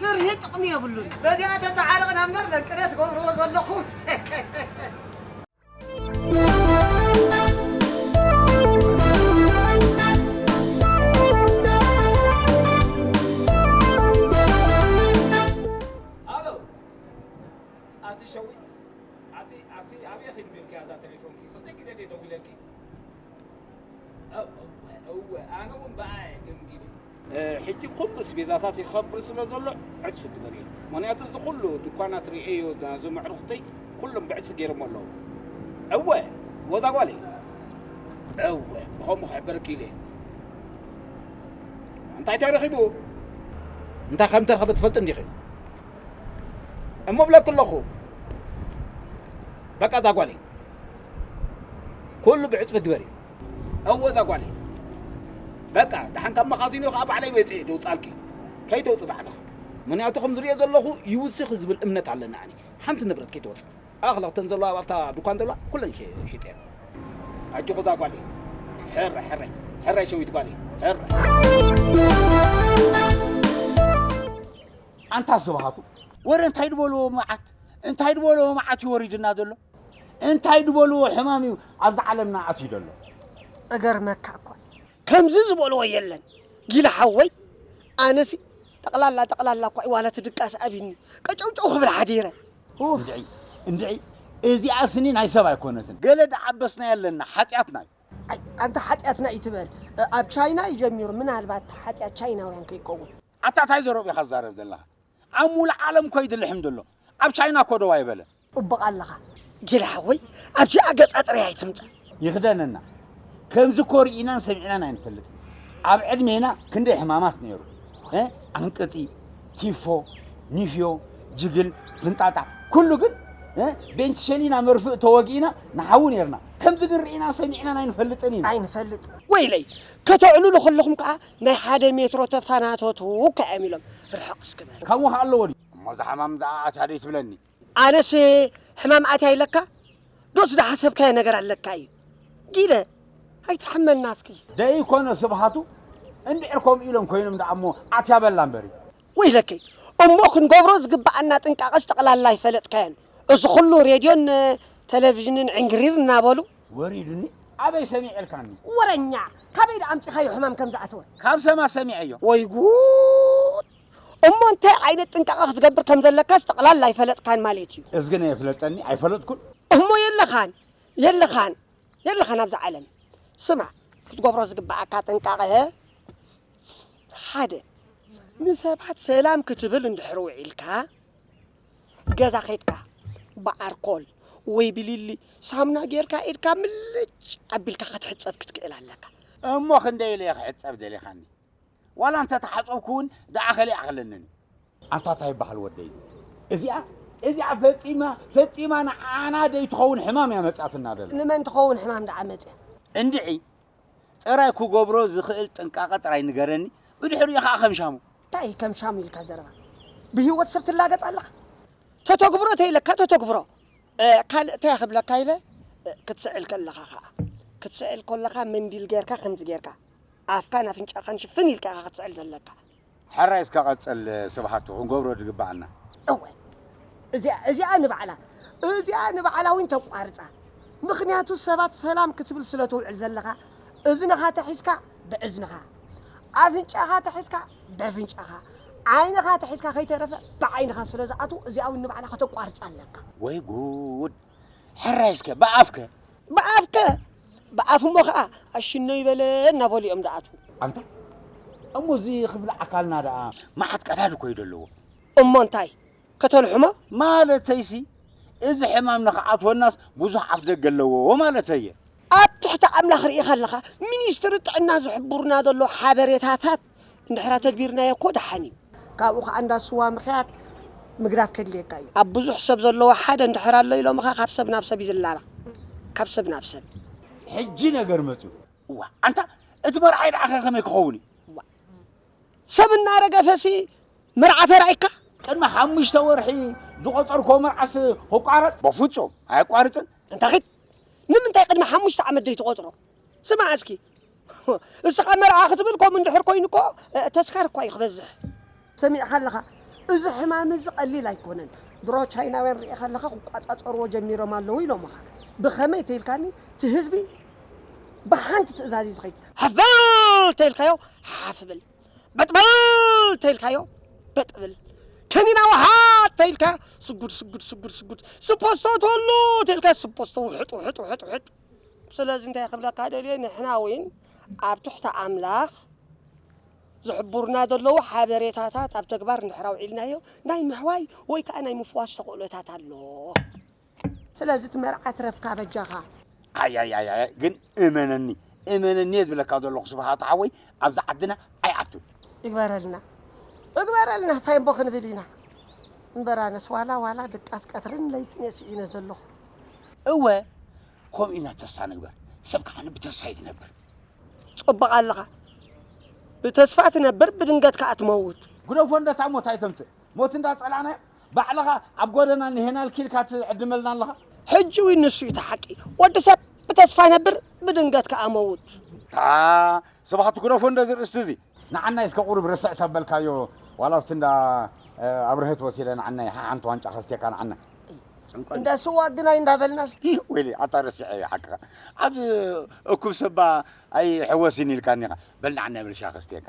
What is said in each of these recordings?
ፍርሂ ጥቅሚ የብሉን በዚኣ ተታዓርቅና እምበር ለቅነ ትገብርዎ ዘለኹም ሕጂ ኩሉ ስቤዛታት ይኸብር ስለ ዘሎ ዕጽፊ ግበርዮ ምክንያቱ እዚ ኩሉ ድኳናት ርኤዮ ናዞም ኣዕሩኽተይ ኩሎም ብዕጽፊ ገይሮሞ ኣለዉ እወ ወዛ ጓለይ እወ ብኸምኡ ክሕበርኪ ኢለ እንታይ ተረኺቡ እንታይ ከም ተረኸበ ትፈልጥ እንዲኺ እሞ ብለኪ ኣለኹ በቃ እዛ ጓለይ ኩሉ ብዕፅፊ ግበሪ እወ እዛ ጓለይ በቃ ደሓን ካብ መኻዚኖ ከዓ ባዕለይ መፅኤ ደውፃልኪ ከይተውፅ ባዕልኺ ምክንያቱ ከም ዝሪኦ ዘለኹ ይውስኽ ዝብል እምነት ኣለኒ ኣነ ሓንቲ ንብረት ከይትወፅእ ኣኽለኽተን ዘለዋ ኣብታ ድኳን ዘለዋ ኩለን ሽጥየን ኣጆኹ እዛ ጓለይ ሕረ ሕረ ሕረ ሸዊት ጓለይ ሕረ ኣንታ ዝበሃቱ ወረ እንታይ ድበልዎ መዓት እንታይ ድበልዎ መዓት እዩ ወሪድና ዘሎ እንታይ ድበልዎ ሕማም እዩ ኣብዛ ዓለምና ኣትዩ ደሎ። እገርመካ እኳ እዩ። ከምዚ ዝበልዎ የለን ጊላ ሓወይ ኣነሲ ጠቅላላ ጠቅላላ እኳ እዩ ዋላ እቲ ድቃስ ኣብይኒ ቀጨውጨው ክብል ሓዲረ። እንድዒ እንድዒ እዚኣ ስኒ ናይ ሰብ ኣይኮነትን ገለ ድዓበስናዮ ኣለና ሓጥያትና እዩ። ኣይ ኣንታ ሓጢኣት ናይ ትበል ኣብ ቻይና እዩ ጀሚሩ ምናልባት ሓጢኣት ቻይናውያን ከይከውን። ኣታ ታይ ዘረብኡ ኢካ ትዛረብ ዘለካ ኣብ ሙሉእ ዓለም እኮ ይድልሕም ደሎ ኣብ ቻይና እኮ ደው ኣይበለን። ጽቡቕ ኣለኻ ጊላ ሓወይ ኣብዚኣ ገጻ ጥራይ ኣይትምጻእ። ይኽደነና ከምዚ እኮ ርኢናን ሰሚዕናን ኣይንፈልጥን ኣብ ዕድሜና ክንደይ ሕማማት ነይሩ እ ኣንቅጺ ቲፎ ኒፍዮ ጅግል ፍንጣጣ ኩሉ ግን እ ቤንትሸሊና መርፍእ ተወጊእና ንሓዊ ነርና ከምዚ ግን ርኢናን ሰሚዕናን ኣይንፈልጥን ኢና ኣይንፈልጥ ወይለይ ከተዕልሉ ከለኹም ከዓ ናይ ሓደ ሜትሮ ተፋናተቱ እኳ እዮም ኢሎም ርሕቕ እስኪ በል። ካብ ውሃ ኣለዎ ድዩ? እሞ እዛ ሕማም እዚኣ ኣትያ ደይ ትብለኒ። ኣነስ ሕማም ኣትያ ኢለካ ዶስ ዝሓሰብካዮ ነገር ኣለካ እዩ ጊደ ኣይትሕመና እስኪ። ደይኮነ ስብሃቱ እንድዕር ከምኡ ኢሎም ኮይኖም ደኣ እሞ ኣትያ በላ እምበሪ። ወይለከይ እሞ ክንገብሮ ዝግበኣና ጥንቃቐስ ጠቕላላ ኣይፈለጥካዮን። እዚ ኹሉ ሬድዮን ተለቪዥንን ዕንግሪር እናበሉ ወሪዱኒ ኣበይ ሰሚዐልካኒ? ወረኛ! ካበይ ደኣ ኣምጺኻዮ ሕማም ከም ዝኣተወ? ካብ ሰማ ሰሚዐዮ። ወይ ጉድ! እሞ እንታይ ዓይነት ጥንቃቐ ክትገብር ከም ዘለካስ ጠቕላላ ኣይፈለጥካን ማለት እዩ። እዝጊ ናይ የፍለጠኒ ኣይፈለጥኩን። እሞ የለኻን የለኻን የለኻን ኣብዛ ዓለም። ስማዕ ክትገብሮ ዝግበኣካ ጥንቃቐ ሓደ ንሰባት ሰላም ክትብል እንድሕሪ ውዒልካ፣ ገዛ ከይድካ ብኣርኮል ወይ ብሊሊ ሳሙና ጌርካ ኢድካ ምልጭ ኣቢልካ ክትሕፀብ ክትክእል ኣለካ። እሞ ክንደይ ኢለ እየ ክሕፀብ ደሊኻኒ? ዋላ እንተተሓፀብኩ እውን ደኣ ከሊእ ኣይክለንን እዩ። ኣታ ታይ በሃል ወደይ እዚኣ እዚኣ ፈጺማ ፈጺማ ንዓና ደይትኸውን ሕማም እያ መጺኣትና ዘላ። ንመን ትኸውን ሕማም ደኣ መጺኣ? እንድዒ ጥራይ ክገብሮ ዝኽእል ጥንቃቐ ጥራይ ንገረኒ ብድሕሪኡ ኸኣ ከም ሻሙ። እንታይ እዩ ከም ሻሙ ኢልካ ዘረባ? ብህይወት ሰብ ትላገጽ ኣለኻ? ተተግብሮ ተይለካ ተተግብሮ። ካልእ እንታይ ክብለካ ኢለ ክትስዕል ከለኻ ኸኣ። ክትስዕል ከለኻ መንዲል ጌርካ ከምዚ ጌርካ ኣፍካን ኣፍንጫኻን ሽፍን ኢልካ ኢኻ ክትስዕል ዘለካ። ሕራይ እስከ ቀጽል ስብሓቱ ክንገብሮ ድግበኣና። እወ እዚኣ እዚኣ ንባዕላ እዚኣ ንባዕላ ዊን ተቋርጻ ምኽንያቱ ሰባት ሰላም ክትብል ስለ ትውዕል ዘለኻ እዝንኻ ተሒዝካ ብዕዝንኻ ኣፍንጫኻ ተሒዝካ በፍንጫኻ ዓይንኻ ተሒዝካ ከይተረፈ ብዓይንኻ ስለ ዝኣትው እዚኣ ዊን ንባዕላ ከተቋርጻ ኣለካ። ወይ ጉድ ሕራይ እስከ ብኣፍከ ብኣፍከ ብኣፍ እሞ ከኣ ኣሽነይ በለ እናበሉ እዮም ዝኣትዉ። ኣንታ እሞ እዚ ክፍሊ ኣካልና ደኣ መዓት ቀዳድ እኮ እዩ ዘለዎ። እሞ እንታይ ከተልሕሞ? ማለተይሲ እዚ ሕማም ንክኣትወናስ ብዙሕ ኣፍደገ ኣለዎ ማለተይ እየ። ኣብ ትሕቲ ኣምላኽ ርኢኻ ኣለኻ፣ ሚኒስትሪ ጥዕና ዝሕብሩና ዘለዉ ሓበሬታታት እንድሕር ኣተግቢርናዮ እኮ ደሓን እዩ። ካብኡ ከኣ እንዳ ስዋ ምኽያድ ምግዳፍ ከድልየካ እዩ። ኣብ ብዙሕ ሰብ ዘለዎ ሓደ እንድሕር ኣሎ ኢሎምኻ ካብ ሰብ ናብ ሰብ እዩ ዝላባዕ ካብ ሰብ ናብ ሰብ። ሕጂ ነገር መጽዩ። እዋእ ኣንታ እቲ መርዓይ ደኣኸ ከመይ ክኸውን እዩ? እዋእ ሰብ እናረገፈሲ መርዓ ተራኢካ? ቅድሚ ሓሙሽተ ወርሒ ዝቖጸርኩዎ መርዓስ ክቋረጽ? በፍጹም ኣየቋርጽን። ኣንታ ኺድ ንምንታይ ቅድሚ ሓሙሽተ ዓመት ዘይትቖጽሮ? ስማዕ እስኪ እስኻ መርዓ ክትብል ከምኡ እንድሕር ኮይኑ እኮ ተስካር እኳ እዩ ክበዝሕ። ሰሚዕኻ ኣለኻ እዚ ሕማም እዚ ቀሊል ኣይኮነን ብሮ ቻይናውያን ሪኤኻ ኣለኻ ክቋጻጸርዎ ጀሚሮም ኣለዉ ኢሎምኻ ብኸመይ ተይልካኒ እቲ ህዝቢ ብሓንቲ ትእዛዝ እዩ ዝኸይድ ሃፍ በል ተይልካዮ ሓፍ ብል በጥ በል ተይልካዮ በጥ ብል ከኒና ውሓጥ ተይልካዮ ስጉድ ስጉድ ስጉድ ስጉድ ስፖስቶ ተሉ ተይልካዮ ስፖስቶ ውሕጥ ውሕጥ ውሕጥ ውሕጥ ስለዚ እንታይ ክብለካ ደልየ ንሕና እውን ኣብ ትሕቲ ኣምላኽ ዝሕብሩና ዘለዉ ሓበሬታታት ኣብ ተግባር እንድሕር ኣውዒልናዮ ናይ ምሕዋይ ወይ ከዓ ናይ ምፍዋስ ተኽእሎታት ኣሎ ስለዚ እቲ መርዓ ትረፍካ በጃኻ ኣያያያ ግን እመነኒ እመነኒ እየ ዝብለካ ዘለኹ ስብሃት ሓወይ ኣብዚ ዓድና ኣይኣቱን ይግበረልና እግበረልና እንታይ እሞ ክንብል ኢና እምበር ኣነስ ዋላ ዋላ ድቃስ ቀትርን ለይትን እየ ስኢነ ዘለኹ እወ ከምኡ ኢና ተስፋ ንግበር፣ ሰብ ከዓ ብተስፋ እዩ ዝነብር። ጸቡቕ ኣለኻ፣ ብተስፋ ትነብር ብድንገት ከዓ ትመውት። ግደፎ እንደታ ሞት ኣይተምጽእ፣ ሞት እንዳ ጸላእናያ ባዕልኻ ኣብ ጎደና ንሄና ልኪ ኢልካ ትዕድመልና ኣለኻ። ሕጂ እውን ንሱ እዩ እቲ ሓቂ፣ ወዲ ሰብ ብተስፋ ይነብር ብድንገት ከዓ መውት። ታኣ ሰባኻቱ ግደፎ እንደዚ ርእስቲ እዚ። ንዓናይ እስከ ቁሩብ ርስዕ ተበልካዮ ዋላ ኣብቲ እንዳ ኣብርሀት ወሲደ ንዓናይ ሓሓንቲ ዋንጫ ከስትየካ ንዓና። እንዳ ስዋ ግን ኣይንዳበልናስ። ወይለይ ኣታ ረሲዐዮ ሓቅኻ ኣብ እኩብ ሰባ ኣይሕወስን ኢልካኒ ኢኻ በል ንዓናይ ብርሻ ከስትየካ።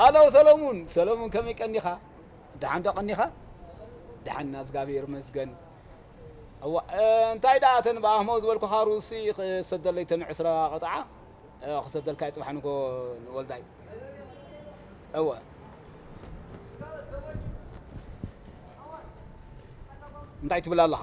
ሃሎ ሰለሙን ሰለሙን ከመይ ቀኒኻ ደሓን ዶ ቀኒኻ ደሓን እና እዝጋብሄር ይመስገን እዋ እንታይ ደኣ እተን ብኣህሞ ዝበልኩኻ ሩሲ ክሰደለይ ተን ዕስራ ቅጥዓ ክሰደልካ እዩ ፅባሕ ንጎ ንወልዳይ እወ እንታይ ትብል ኣለኻ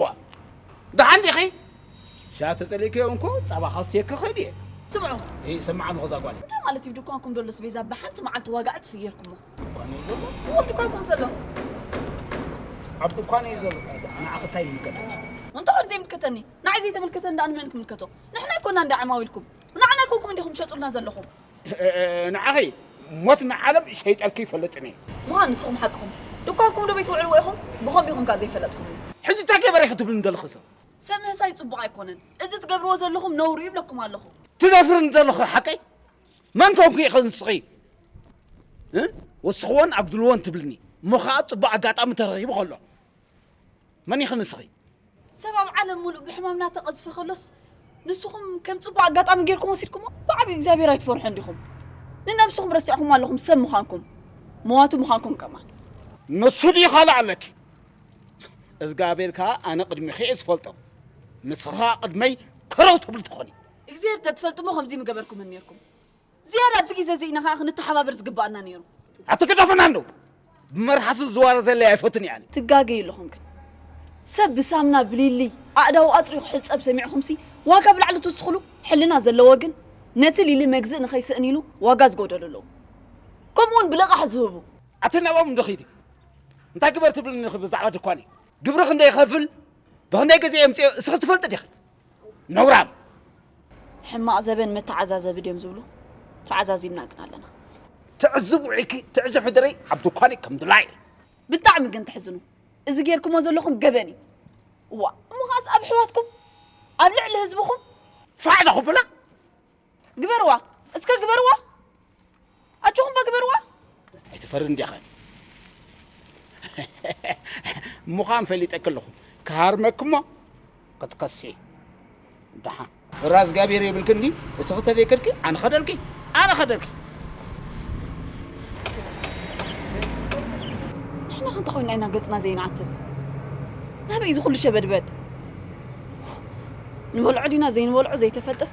ዋ ደሓን ዲኺ ሻ ተጸሊእከዮ እንኮ ጸባ ከስየኪ ክእል እየ ስምዑ እ ሰማዕ ኣለኹ እዛ ጓል እንታይ ማለት እዩ ድኳንኩም ዶሎ ስቤዛ ብሓንቲ መዓልቲ ዋጋ ዕፅፊ ጌርኩሞ ድኳን እዩ ዘሎ እዎ ድኳንኩም ዘሎ ኣብ ድኳን እዩ ዘሎ ንዓኺ እንታይ ይምልከተኒ እንተ ወድ ዘይምልከተኒ ንዓይ ዘይተመልከተኒ ደኣ ንመን ክምልከቶ ንሕና ኣይኮና እንዳ ዓማዊልኩም ንዓና ኮንኩም እንዲኹም ሸጡልና ዘለኹም ንዓኺ ሞት ንዓለም ሸይጠልኪ ይፈልጥን እየ። ምዃን ንስኹም ሓቅኹም ድኳንኩም ዶ ቤትውዕልዎ ኢኹም ብኸምኡ ኢኹም ከኣ ዘይፈለጥኩምኒ። ሕጂ ታይ ገበረ ኢኺ ትብልኒ ዘለኺ ሰብ። ሰብ ምህሳይ ጽቡቕ ኣይኮነን እዚ ትገብርዎ ዘለኹም ነውሪ እዩ እብለኩም ኣለኹ። ትደፍርኒ ዘለኺ ሓቀይ መን ኮንኪ ኢኺ ንስኺ ወስኽዎን ኣጉድልዎን ትብልኒ እሞ ከኣ ጽቡቕ ኣጋጣሚ ተረኺቡ ከሎ። መን ኢኺ ንስኺ? ሰብ ኣብ ዓለም ሙሉእ ብሕማም እናተቐዝፈ ከሎስ ንስኹም ከም ጽቡቕ ኣጋጣሚ ጌርኩም ወሲድኩሞ? ብዓቢኡ እግዚኣብሔር ኣይትፈርሑን ዲኹም? ንነብስኹም ረሲዕኹማ ኣለኹም ሰብ ምዃንኩም መዋቲ ምዃንኩም ከማን። ንሱ ድዩ ካልእ ኣለኪ? እዝጋብሄር ከኣ ኣነ ቅድሚኺ እየ ዝፈልጦ ንስኺ ከኣ ቅድመይ ከረው ትብሊ ትኾኒ። እግዚኣብሔር እንተትፈልጡሞ ከምዚ ምገበርኩምን ኔርኩም። ዝያዳ ኣብዚ ግዜ እዚ ኢና ከኣ ክንተሓባበር ዝግበኣና ነይሩ። ኣቲ ግደፉና እንዶ ብመርሓሱ ዝዋረ ዘለ ኣይፈቱን እየ ኣነ። ትጋገዩ ኣለኹም ግን ሰብ ብሳምና ብሊልይ ኣእዳዉ ኣጽርዩ ክሕጸብ ሰሚዕኹምሲ ዋጋ ብላዕሊ ትውስኽሉ ሕልና ዘለዎ ግን ነቲ ሊሊ መግዝእ ንኸይስእን ኢሉ ዋጋ ዝጎደሉ ኣለዉ ከምኡ ውን ብልቓሕ ዝህቡ ኣቲ ናብኦም እንዶ ኺዲ እንታይ ግበር ትብልኒ ኢኺ ብዛዕባ ድኳነይ ግብሪ ክንደይ ይኸፍል ብኽንደይ ግዜ የምጽኦ እስኺ ትፈልጢ ዲኺ? ነውራም ሕማቕ ዘበን መተዓዛዘቢ ድዮም ዝብሉ ተዓዛዚብና ግን ኣለና ትዕዝብ ውዒኪ ትዕዝብ ሕድሪ ኣብ ድኳኒ ከም ድላይ ብጣዕሚ ግን ትሕዝኑ እዚ ጌርክሞ ዘለኹም ገበን እዩ እዋ እሞ ከዓስ ኣብ ኣሕዋትኩም ኣብ ልዕሊ ህዝብኹም ፋዕ ዘኹብላ ግበርዋ እስከ ግበርዋ ኣጆኹም እባ ግበርዋ። ኣይትፈርን ዲኻ ምዃን ፈሊጠኪ ኣለኹ ክሃርመኪ እሞ ክትከሲ ድሓ ፍራ እግዚኣብሔር የብልክን ድዩ እስኺ ተደይከድኪ ኣነ ኸደልኪ ኣነ ኸደልኪ ንሕና ከ እንታይ ኮይና ኢና ገፅና ዘይንዓትብ ናበይ እዚ ኩሉ ሸበድበድ ንበልዖ ዲና ዘይንበልዖ ዘይተፈልጠስ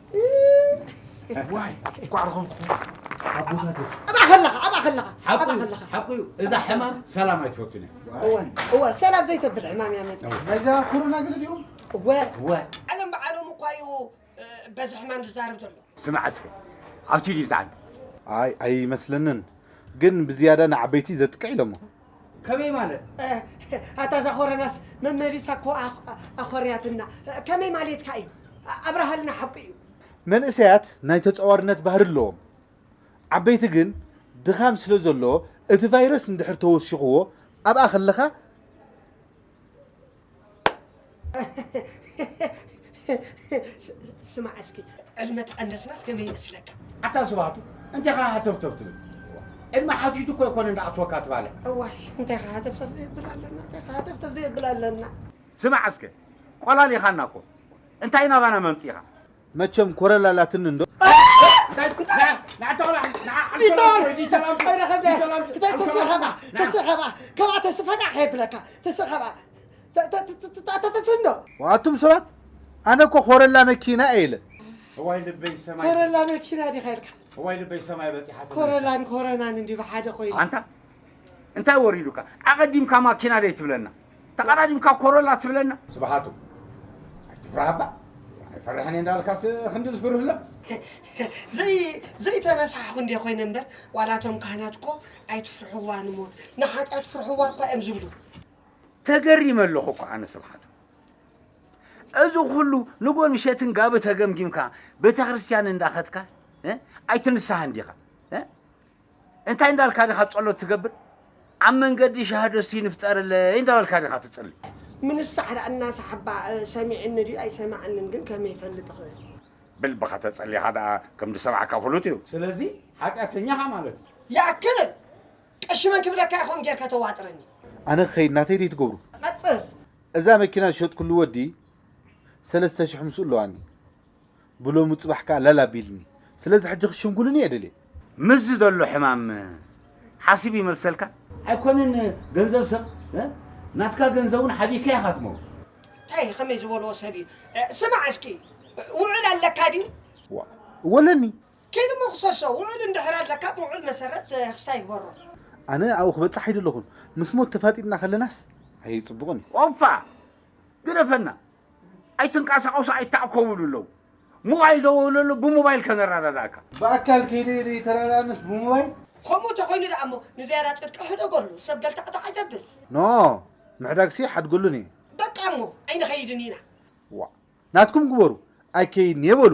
ዋይ እንኳዕ ረኸብኩም ኣቦታተይ ኣብኣ ከለኻ ኣብኣ ከለኻ ኣብኣ ከለኻ ሓቁ እዩ እዛ ሕማም ሰላም ኣይትፈቱን እያ እወ እወ ሰላም ዘይተብል ሕማም እያ መፅእ ነዛ ኩሩና ግለ ድዮም እወ እወ ዓለም በዓሎም እኳ እዩ እ፣ በዚ ሕማም ዝዛረብ ዘሎ ስማዕ እስከ ኣብቲ ድዩ ዝዓቢ ኣይ ኣይመስለንን ግን ብዝያዳ ንዓበይቲ ዘጥቅዕ ኢሎሞ ከመይ ማለት ኣታ እዛ ኮረናስ መመሊሳ እኮ ኣኾርያትና ከመይ ማሌትካ እዩ ኣብርሃልና ሓቁ እዩ መንእሰያት ናይ ተጻዋርነት ባህሪ ኣለዎም ዓበይቲ ግን ድኻም ስለ ዘለዎ እቲ ቫይረስ እንድሕር ተወሲኽዎ ኣብኣ ከለኻ ስማዕ እስኪ ዕድመ ተቐነስናስ ከመይ ይመስለካ? ኣታ ስብሃቱ እንታይ ኸ ሃተፍተፍ ትብል ዕድመ ሓቲቱ እኮ ኣይኮነ እንዳኣትወካ ትባልዕ እዋይ እንታይ ኸ ሃተፍተፍ ዘየብል ኣለና እንታይ ኸ ሃተፍተፍ ዘየብል ኣለና ስማዕ እስከ ቆላሊኻና እኮ እንታይ ናባና መምፂእኻ መቸም ኮረላ ኣላትኒ እንዶ ኣቱም ሰባት ኣነ እኮ ኮረላ መኪና እየ ኢለ እዋይ ልበይ ሰማይ ኮረላ መኪና ዲኻ ኢልካ እዋይ ልበይ ሰማይ በፂሓ ኮረላን ኮረናን እንዲ ብሓደ ኮይኑ ኣንታ እንታይ ወሪዱካ ኣቐዲምካ ማኪና ደይ ትብለና ተቀዳዲምካ ኮሮላ ትብለና። ስብሓቱ ኣይትፍራህ እባ ኣይፈርሕን እየ እንዳበልካስ ክንዲ ዝፍርህ ኣሎ ዘይተረሳሕኹ እንደ ኮይነ እምበር ዋላ እቶም ካህናት እኮ ኣይትፍርሕዋ ንሞት ንሓጢኣት ፍርሕዋ እኳ እዮም ዝብሉ ተገሪመ ኣለኹ እኮ ኣነ ስብሓቱ እዚ ኩሉ ንጎን ምሸትን ጋቢ ተገምጊምካ ቤተ ክርስቲያን እንዳኸትካ ኣይትንስሃ እንዲኻ እንታይ እንዳልካ ዲኻ ጸሎት ትገብር ኣብ መንገዲ ሻህዶ እስቲ ንፍጠረለይ እንዳበልካ ዲኻ ትጽሊ። ምንስ ሳዕራ እናሰሓባ ሰሚዕኒ ድዩ ኣይሰማዕንን ግን ከመይ ይፈልጥ እኽእል። ብልብኻ ተጸሊኻ ደኣ ከም ዝሰምዓካ ፍሉጥ እዩ። ስለዚ ሓጥያተኛ ኢኻ ማለት እዩ። ይኣክል! ቀሺ መን ክብለካ ኢየ ከምኡ ጌርካ ተዋጥረኒ። ኣነ ክኸይድ ናተይ ድዩ ትገብሩ? ቀጽል! እዛ መኪና ዝሸጥኩሉ ወዲ ሰለስተ ሽሕ ምስኡ ኣለዋኒ። ብሎሙ ጽባሕ ከኣ ለል ኣቢልኒ ስለዚ ሕጂ ክሽምጉሉኒ እየ ደልየ። ምስዚ ዘሎ ሕማም ሓሲብ ይመልሰልካ። ኣይኮነን ገንዘብ ሰብ ናትካ ገንዘብ ውን ሓቢእካ ኢካ ትመውት። ታይ እዩ ከመይ ዝበልዎ ሰብ እዩ ስማዕ እስኪ ውዑል ኣለካ ድዩ። ዋእ እወ ኣለኒ። ኪድ እሞ ክሰሶ ውዑል እንድሕር ኣለካ ብውዑል መሰረት ህክሳ ይግበሮ። ኣነ ኣብኡ ክበጽሕ ኣይደለኹን ምስ ሞት ተፋጢጥና ከለናስ ኣይጽቡቕን እዩ። ኦፋ ግደፈና ኣይትንቀሳቀሱ ኣይታዕኮቡ ልለው ሞባይል ደወለሉ ብሞባይል ከነረዳዳእካ ብኣካል ከይደ ኢለ ይተረዳኣንስ ብሞባይል ከምኡ ተኾይኑ ደኣ እሞ ንዝያዳ ጽድቂ ሕደጎሉ ሰብ ገልታዕታዕ ኣይተብል ኖ ምሕዳግሲ ሓድገሉን እየ በቃ እሞ ኣይንኸይድን ኢና ዋእ ናትኩም ግበሩ ኣይከይድን እየ በሉ።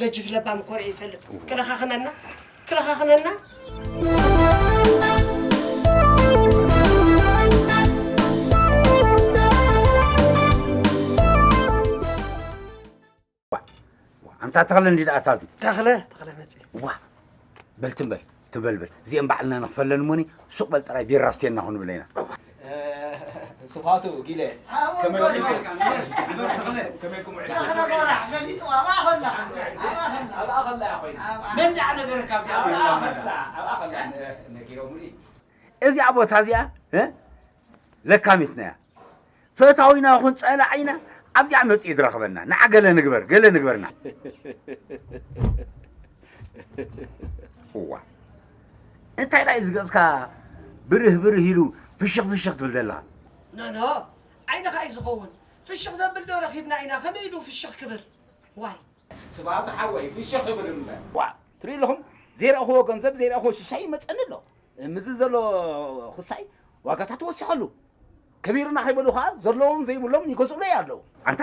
ገጅፍ ለባም እኮ ርእየ ይፈልጥ ክለኻኽመና ክለኻኽመና ኣንታ ተኽለ እንዲድኣ እታ እዚ ተኽለ ተኽለ መፅእ ዋ በልትም በል ትበል በል እዚኤን ባዕልና ንክፈለን እሞኒ ሱቅ በል ጥራይ ቢራ ኣስትየና ክንብለ ኢና። ስብሃቱ ጊለ እዚኣ ቦታ እዚኣ ለካሚትና እያ ፈታዊና ይኹን ፀላዒና ኣብዚኣ መፅኡ ዝረኽበና ንዓ ገለ ንግበር ገለ ንግበርና እዋ እንታይ ዳዩ ዝገፅካ ብርህ ብርህ ኢሉ ፍሽኽ ፍሽኽ ትብል ዘለኻ ኖኖ ዓይንኻ እዩ ዝኸውን ፍሽኽ ዘብል ዶ ረኺብና ኢና ከመይ ኢሉ ፍሽኽ ክብል ዋይ ስብሃቱ ሓወይ ፍሽኽ ይብል እምበር። ዋእ ትሪኡ ኣለኹም ዘይረኣኹዎ ገንዘብ ዘይረኣኹዎ ሽሻይ ይመጸኒ ኣሎ ምስዚ ዘሎ ኽሳይ ዋጋታት ወሲኹ ኣሉ ከቢሩና ከይበሉ ኸኣ ዘለዎም ዘይብሎም ይገዝኡለይ ኣለዉ ኣንታ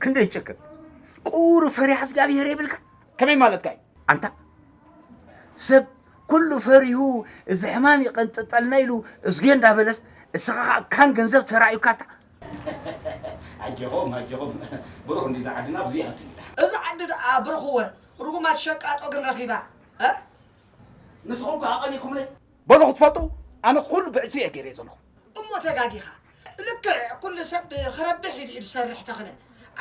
ክንደይ ጭክን ቁሩብ ፈሪሃ እግዚኣብሄር የብልካ ከመይ ማለትካ እዩ ኣንታ ሰብ ኩሉ ፈሪሁ እዚ ሕማም ይቐንጥጠልና ኢሉ እዝጌ እንዳበለስ እስኻ ኸኣ ካን ገንዘብ ተራእዩካ እታ ኣጀኹም ኣጀኹም ብሩኽ እንድዩ እዛ ዓድና ብዙይ ኣቱን ኢላ። እዛ ዓዲ ደኣ ብሩኽወ ርጉማት ሸቃጦ ግን ረኺባ እህ። ንስኹም ከ ኣቐኒኹምኒ። በሉ ክትፈልጡ ኣነ ኩሉ ብዕጽፊ እየ ገይረዮ ዘለኹ። እሞ ተጋጊኻ ልክዕ ኩሉ ሰብ ክረብሕ ኢሉ እዩ ዝሰርሕ ተኽለ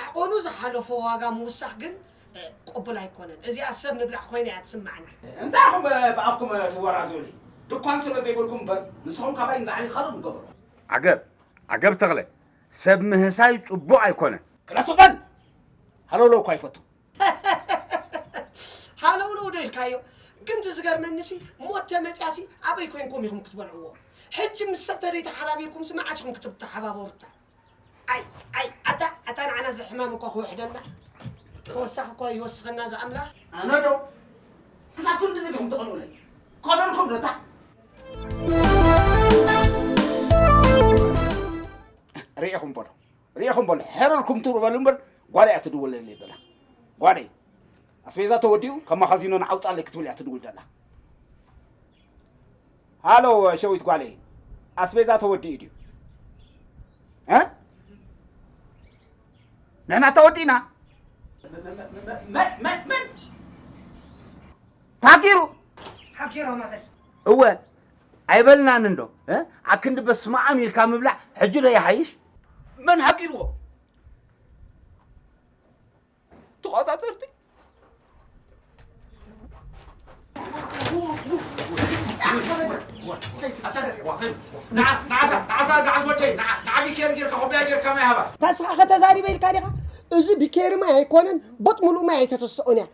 ዓቐኑ ዝሓለፎ ዋጋ ምውሳኽ ግን ቅቡል ኣይኮነን እዚኣ ሰብ ምብላዕ ኮይና እያ ትስማዓኒ። እንታይ ኢኹም ብኣፍኩም ትወራዘዩለይ ድኳን ስለ ዘይብልኩም እምበር ንስኹም ካባይ ንላዕሊ ካልእ ምገበርኩም። ዓገብ ዓገብ ተኽለ ሰብ ምህሳይ ጽቡቕ ኣይኮነን። ክላ ስቕ በል ሃለውለው እኳ ይፈቱ። ሃለውለው ዶ ኢልካዮ ግን እቲ ዝገርመኒሲ ሞት ተመጽያሲ ኣበይ ኮይንኩም ኢኹም ክትበልዕዎ ሕጂ ምስ ሰብ ተደይ ተሓባቢርኩምሲ መዓስ ኢኹም ክትተሓባበሩታ ኣይ ኣይ ኣታ ኣታ ንዓና እዚ ሕማም እኳ ክውሕደና ተወሳኺ እኳ ይወስኸና ዝኣምላኽ ኣነ ዶ ክሳብ ክንድዚ ዲኹም ተቕንኡለይ ኮደልኩም ዶ እታ ርኢኹም በሎ ርኢኹም በሎ ሕርርኩም ትብሉ በሉ እምበር ጓል እያ ትድውለለይ በላ ጓለይ ኣስቤዛ ተወዲኡ ካብ ማኻዚኖ ንዓውፃለይ ክትብል እያ ትድውል ዘላ ሃሎ ሸዊት ጓለይ ኣስቤዛ ተወዲኡ ድዩ እ? ንሕና ተወዲእና ታኪሩ ሓኪሮ ማለት እወ ኣይበልናን እንዶ እ? ኣክንዲ በስመ ኣም ኢልካ ምብላዕ ሕጂ ዶ ይሓይሽ መን ሃቂርዎ ተቆፃፀርቲ ታስኻ ከተዛሪበ ኢልካ ዲኻ እዚ ብኬሪ ማይ ኣይኮነን ቦጥ ሙሉእ ማይ ኣይተተስኦን እያ